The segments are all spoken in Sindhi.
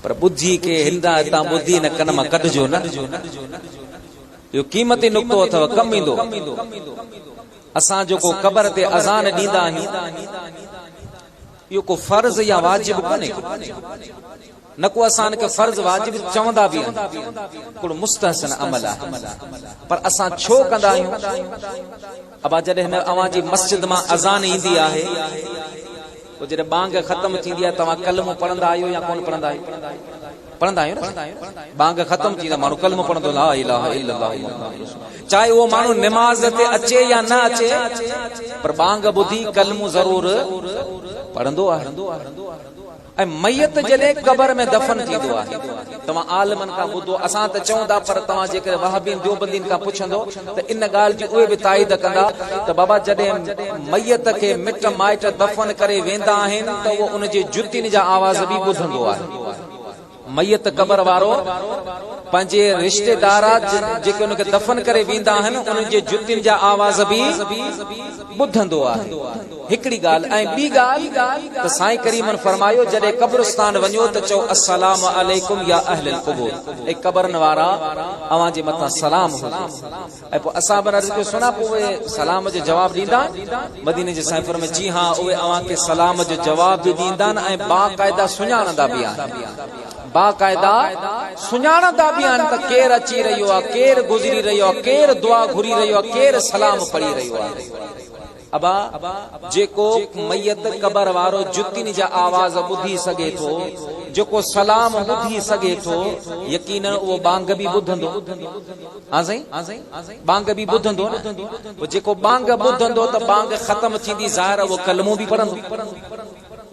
پر ٻڌي کي هندان هتان ٻڌي هن ڪن مان ڪڍجو نه. اهو قيمتي نقطو اٿو، ڪم ايندو. اسان جيڪو قبر تي اذان ڏيندا آهيون، اهو ڪو فرض يا واجب ڪونهي. نه ڪو اسان ان کي فرض واجب چوندا به آهيون. ڪوڙو مستحسن عمل آهي. پر اسان ڇو ڪندا آهيون؟ ابا جڏهن اوهان جي مسجد مان اذان ايندي آهي پوء جڏهن ٻانگ ختم ٿيندي آهي توهان ڪلمو پڙهندا آهيو يا ڪونه پڙهندا آهيو؟ پڙهندا آهيو نه ٻانگ ختم ٿيندي آهي ماڻهو ڪلمو پڙهندو لا اله الا الله محمد رسول چاهي اهو ماڻهو نماز تي اچي يا نه اچي پر ٻانگ ٻڌي ڪلمو ضرور پڙهندو آهي ۽ ميت جڏهن قبر ۾ دفن ٿيندو آهي، توهان عالمن کان ٻڌو، اسان ته چئون ٿا پر توهان جيڪڏهن وهابين ديوبندين کان پڇندو ته ان ڳالهه جي اهي به تائيد ڪندا ته بابا جڏهن ميت کي مٽ مائٽ دفن ڪري ويندا آهن ته اهو ان جي جتين جا آواز به ٻڌندو آهي. ميت قبر وارو پنهنجي رشتيدار جيڪي ان کي دفن ڪري ويندا آهن انهن جي جتين جا آواز به ٻڌندو آهي هڪڙي ڳالهه ۽ ٻي ڳالهه ته سائين ڪريمن فرمايو جڏهن قبرستان وڃو ته چئو السلام عليڪم يا اهل القبور اي قبرن وارا اوهان جي مٿان سلام هجي. ۽ پوء اصحاب کان عرض ڪيو، سنا پوء اهي سلام جو جواب ڏيندا؟ مديني جي سائين فرمايو، جي ها، اهي اوهان کي سلام جو جواب به ڏيندا ۽ باقاعده سڃاڻندا به آهن. باقاعده سڃاڻندا به آهن ته ڪير اچي رهيو آهي، ڪير گذري رهيو آهي، ڪير دعا گهري رهيو آهي، ڪير سلام پڙهي رهيو آهي. ابا، جيڪو ميت قبر وارو جتين جا آواز ٻڌي سگهي ٿو، جيڪو سلام ٻڌي سگهي ٿو، يقيناً اهو ٻانگ به ٻڌندو. ها سائين، ٻانگ به ٻڌندو نه. پوء جيڪو ٻانگ ٻڌندو ته ٻانگ ختم ٿيندي ظاهر اهو ڪلمو به پڙهندو.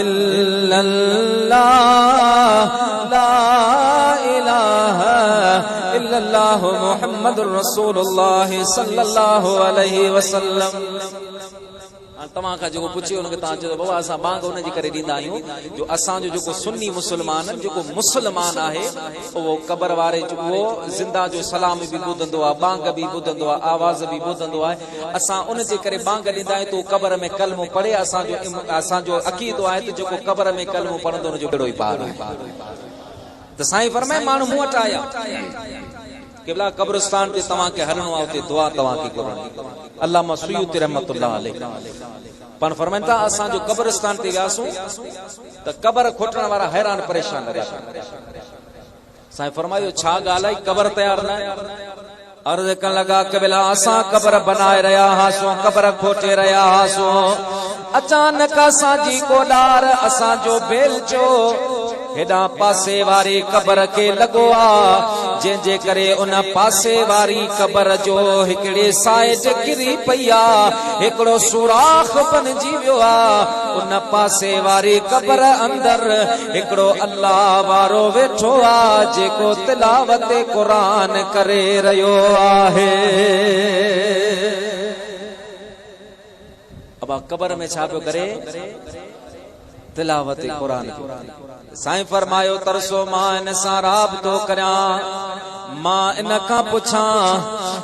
الا الله لا اله الا الله محمد رسول الله صلي الله عليه وسلم توهان کان جيڪو پڇي ان کي توهان چيو بابا اسان بانگ ان جي ڪري ڏيندا آهيون جو اسان جو جيڪو سني مسلمان جيڪو مسلمان آهي اهو قبر واري جو زنده جو سلام به ٻڌندو آهي بانگ به ٻڌندو آهي آواز به ٻڌندو آهي اسان ان جي ڪري ٻانگ ڏيندا آهيون ته هو قبر ۾ ڪلمو پڙهي اسان جو اسان جو عقيدو آهي ته جيڪو قبر ۾ ڪلمو پڙهندو ان جو ٻيڙو ئي پار آهي ته سائين فرمائي ماڻهو مون وٽ آيا قبلا قبرستان تي توهان کي هلڻو آهي اتي دعا توهان کي گهرڻي علامه سيوطي رحمت الله عليه پاڻ فرمائن ٿا اسان جو قبرستان تي وياسون ته قبر کوٽڻ وارا حيران پريشان لڳا سائين فرمايو ڇا ڳالهه آهي قبر تيار نه آهي؟ عرض ڪن لڳا قبلا اسان قبر بنائي رهيا هئاسون قبر کوٽي رهيا هئاسون اچانڪ اسان جي ڪو ڏار اسان جو بيلچو هيڏان پاسي واري قبر کي لڳو آ جنهن جي ڪري ان پاسي واري قبر جو هڪڙي سائيڊ ڪري پئي آ هڪڙو سوراخ بنجي ويو آ ان پاسي واري قبر اندر هڪڙو الله وارو ويٺو آ جيڪو تلاوت قرآن ڪري رهيو آهي. ابا قبر ۾ ڇا پيو ڪري؟ تلاوت قرآن پيو ڪري. سائين فرمايو ترسو مان ان سان رابطو ڪريان. مان ان کان پڇان،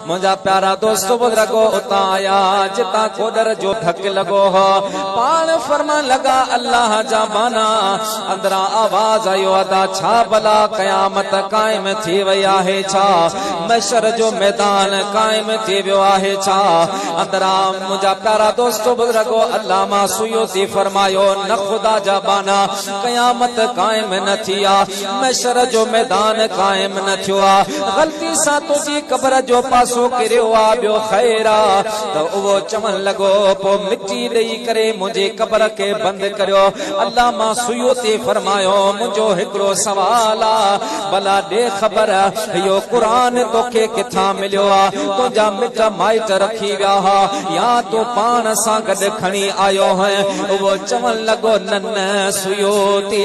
منهنجا پيارا دوست بزرگو اتان آيا، جتان کوڏر جو ڍڪ لڳو هو. پاڻ فرمائڻ لڳا، الله جا ٻانها! اندران آواز آيو، ادا ڇا بلا قيامت قائم ٿي وئي آهي ڇا؟ محشر جو ميدان قائم ٿي ويو آهي ڇا؟ اندران منهنجا پيارا دوست بزرگو علامه سيوطي فرمايو، نه خدا جا ٻانها! قيامت قائم نه ٿي آ. محشر جو ميدان قائم نه ٿيو آ غلطي سان تنهنجي قبر جو پاسو ڪريو آ ٻيو خير آ ته اهو چوڻ لڳو پوء مٽي ڏئي ڪري منهنجي قبر کي بند ڪريو علامه سيوطي فرمايو منهنجو هڪڙو سوال آ ڀلا ڏي خبر اهو قرآن توکي ڪٿان مليو آ تنهنجا مٽ مائٽ رکي ويا ها يا تون پاڻ سان گڏ کڻي آيو هئين اهو چوڻ لڳو نه نه سيوطي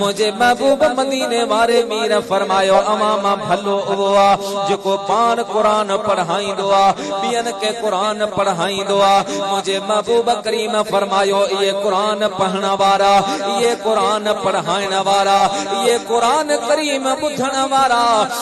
منهنجي محبوب مديني واري مير فرمايو، اوهان مان ڀلو اهو آ، جيڪو پاڻ قرآن پڙهائيندو آ، ٻين کي قرآن پڙهائيندو آ. منهنجي محبوب ڪريم فرمايو، اهي قرآن پڙهڻ وارا، اهي قرآن پڙهائڻ وارا، اهي قرآن ڪريم ٻڌڻ وارا.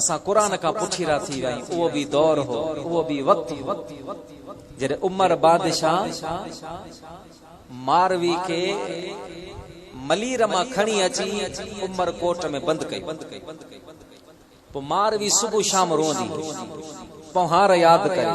اسان قرآن کان پٺيرا ٿي وياهيون اهو به دور هو اهو به وقت هو جڏهن عمر بادشاهه ماروي کي ملير مان کڻي اچي عمر ڪوٽ ۾ بند ڪيو پوء ماروي صبح شام روئندي هئي پونهار ياد ڪري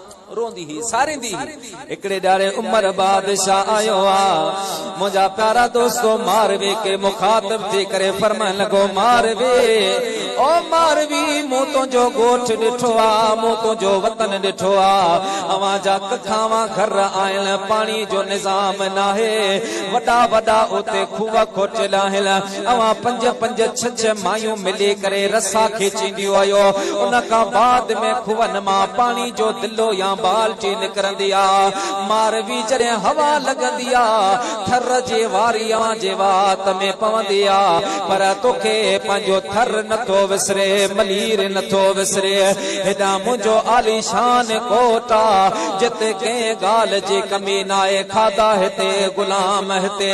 روئندي هئي، ساريندي هئي. هڪڙي ڏهاڙي عمر بادشاهه آيو آ. منهنجا پيارا دوستو! ماروي کي مخاطب ٿي ڪري فرمائڻ لڳو، ماروي! او ماروي! مون تنهنجو ڳوٺ ڏٺو آ، مون تنهنجو وطن ڏٺو آ. اوهان جا ککاوان گهر آهن، پاڻي جو نظام ناهي. وڏا وڏا اتي کوهه کوٽيل آهن. اوهان پنج پنج ڇهه ڇهه مايون ملي ڪري رسا کيچينديون هيو. ان کان بعد ۾ کوهن مان پاڻي جو دلو يا بالٽي نڪرندي ها. ماروي جڏهن هوا لڳندي ها، ٿر جي واري اوهان جي وات ۾ پوندي ها. پر توکي پنهنجو ٿر نٿو وسري، ملير نٿو وسري. هيڏانهن منهنجو عاليشان ڪوٽ آ، جت ڪنهن ڳالهه جي ڪمي ناهي. کاڌا هتي، غلام هتي.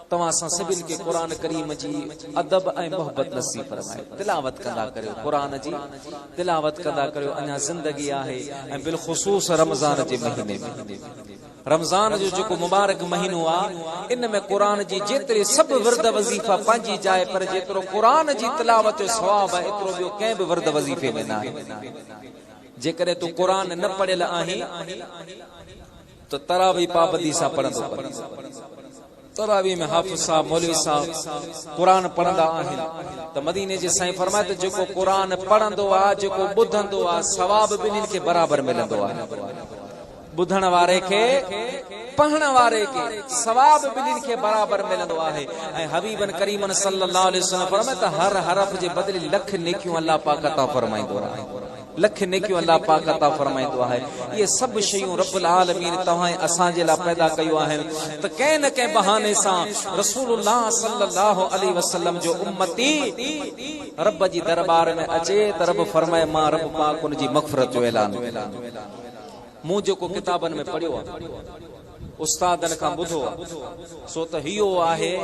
توهان سان سڀن کي قرآن ڪريم جي ادب ۽ محبت نصيب فرمائي تلاوت ڪندا ڪريو قرآن جي تلاوت ڪندا ڪريو اڃا زندگي آهي ۽ بالخصوص رمضان جي مهيني ۾ رمضان جو جيڪو مبارڪ مهينو آ ان ۾ قرآن جي جيتري سڀ ورد وظيفا پنهنجي جاء پر جيترو قرآن جي تلاوت جو ثواب آ ايترو ٻيو ڪنهن به ورد وظيفي ۾ ناهي جيڪڏهن تون قرآن نه پڙهيل آهين ته تراويح پابندي سان پڙهندو ڪن. تراويح ۾ حافظ صاحب، مولوي صاحب قرآن پڙهندا آهن ته مديني جي سائين فرمائي ته جيڪو قرآن پڙهندو آ، جيڪو ٻڌندو آ، ثواب ٻنهين کي برابر ملندو آهي. ٻڌڻ واري کي، پڙهڻ واري کي، ثواب ٻنهين کي برابر ملندو آهي ۽ حبيب ڪريم صلّي اللّٰه عليه وسلّم فرمايو ته هر حرف جي بدلي لک نيڪيون الله پاڪ عطا فرمائيندو آهي. لک نيڪيون الله پاڪ عطا فرمائيندو آهي. اهي سڀ شيون رب العالمين توهان ۽ اسان جي لاء پيدا ڪيو آهن ته ڪنهن نه ڪنهن بهاني سان رسول الله صلي الله عليه وسلم جو امتي رب جي درٻار ۾ اچي ته رب فرمائي مان رب پاڪ ان جي مغفرت جو اعلان ڪريان. مون جيڪو ڪتابن ۾ پڙهيو آهي. استادن کان ٻڌو سو ته اهو آهي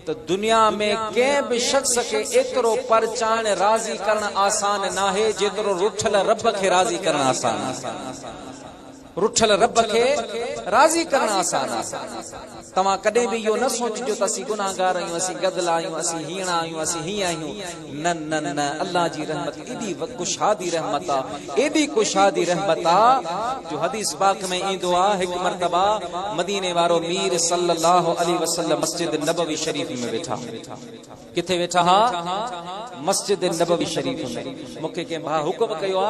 ته دنيا ۾ ڪنهن به شخص کي ايترو پرچائڻ، راضي ڪرڻ، آسان ناهي جيترو رٺل رب کي راضي ڪرڻ آسان آهي. رٺل رب کي راضي ڪرڻ آسان آهي. توهان ڪڏهن به اهو نه سوچجو ته اسين گنهگار آهيون، اسين گدلا آهيون، اسين هيڻا آهيون، اسين هيئن آهيون. نه نه نه الله جي رحمت ايڏي ڪشادي رحمت آ ايڏي ڪشادي رحمت آ جو حديث پاڪ ۾ ايندو آ هڪ مرتبه مديني وارو مير صلّي الله عليه وسلّم مسجد نبوي شريف ۾ ويٺا ڪٿي ويٺا ها مسجد نبوي شريف ۾ مونکي ڪنهن ڀاء حڪم ڪيو آ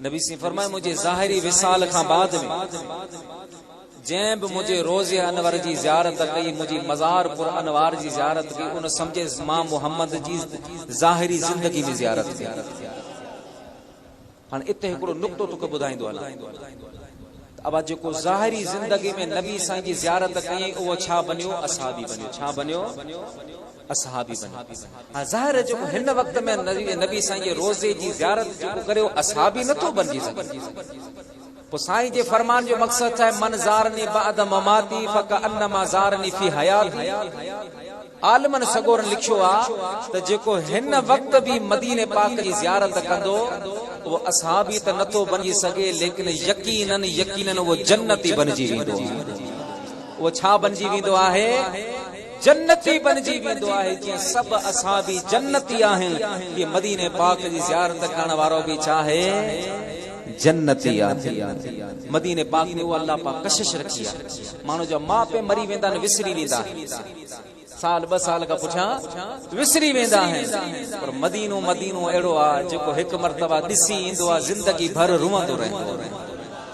نبي سين فرمايو منهنجي ظاهري وصال کان بعد ۾ جنهن به منهنجي روضي انور جي زيارت ڪئي منهنجي مزار پر انوار جي زيارت ڪئي ان سمجهي مان محمد جي ظاهري زندگي ۾ زيارت ڪئي هاڻي اتي هڪڙو نقطو توکي ٻڌائيندو هلان ته ابا جيڪو ظاهري زندگي ۾ نبي سائين جي زيارت ڪئي اهو ڇا بنيو اصحابي بنيو ڇا بنيو اصحابي بني ها ظاهر آهي جيڪو هن وقت ۾ نبي سائين جي روضي جي زيارت جيڪو ڪري اهو اصحابي نه ٿو بنجي سگهي پوء سائين جي فرمان جو مقصد ڇا آهي من زارني بعد مماتي فڪانما زارني في حياتي عالمن سڳورن لکيو آ ته جيڪو هن وقت به مديني پاڪ جي زيارت ڪندو اهو اصحابي ته نه ٿو بنجي سگهي ليڪن يقينن يقينن اهو جنتي بنجي ويندو اهو ڇا بنجي ويندو آهي جنتي بنجي ويندو آهي جيئن سڀ اصحابي جنتي آهن تيئن مديني پاڪ جي زيارت ڪرڻ وارو به ڇاهي جنتي آهي مديني پاڪ ۾ اها الله پاڪ ڪشش رکي آهي ماڻهو جا ماء پي مري ويندا آهن وسري ويندا آهن سال ٻه سال کان پٺيان وسري ويندا آهن پر مدينو مدينو اهڙو آهي جيڪو هڪ مرتبه ڏسي ايندو آهي زندگي ڀر روئندو رهندو آهي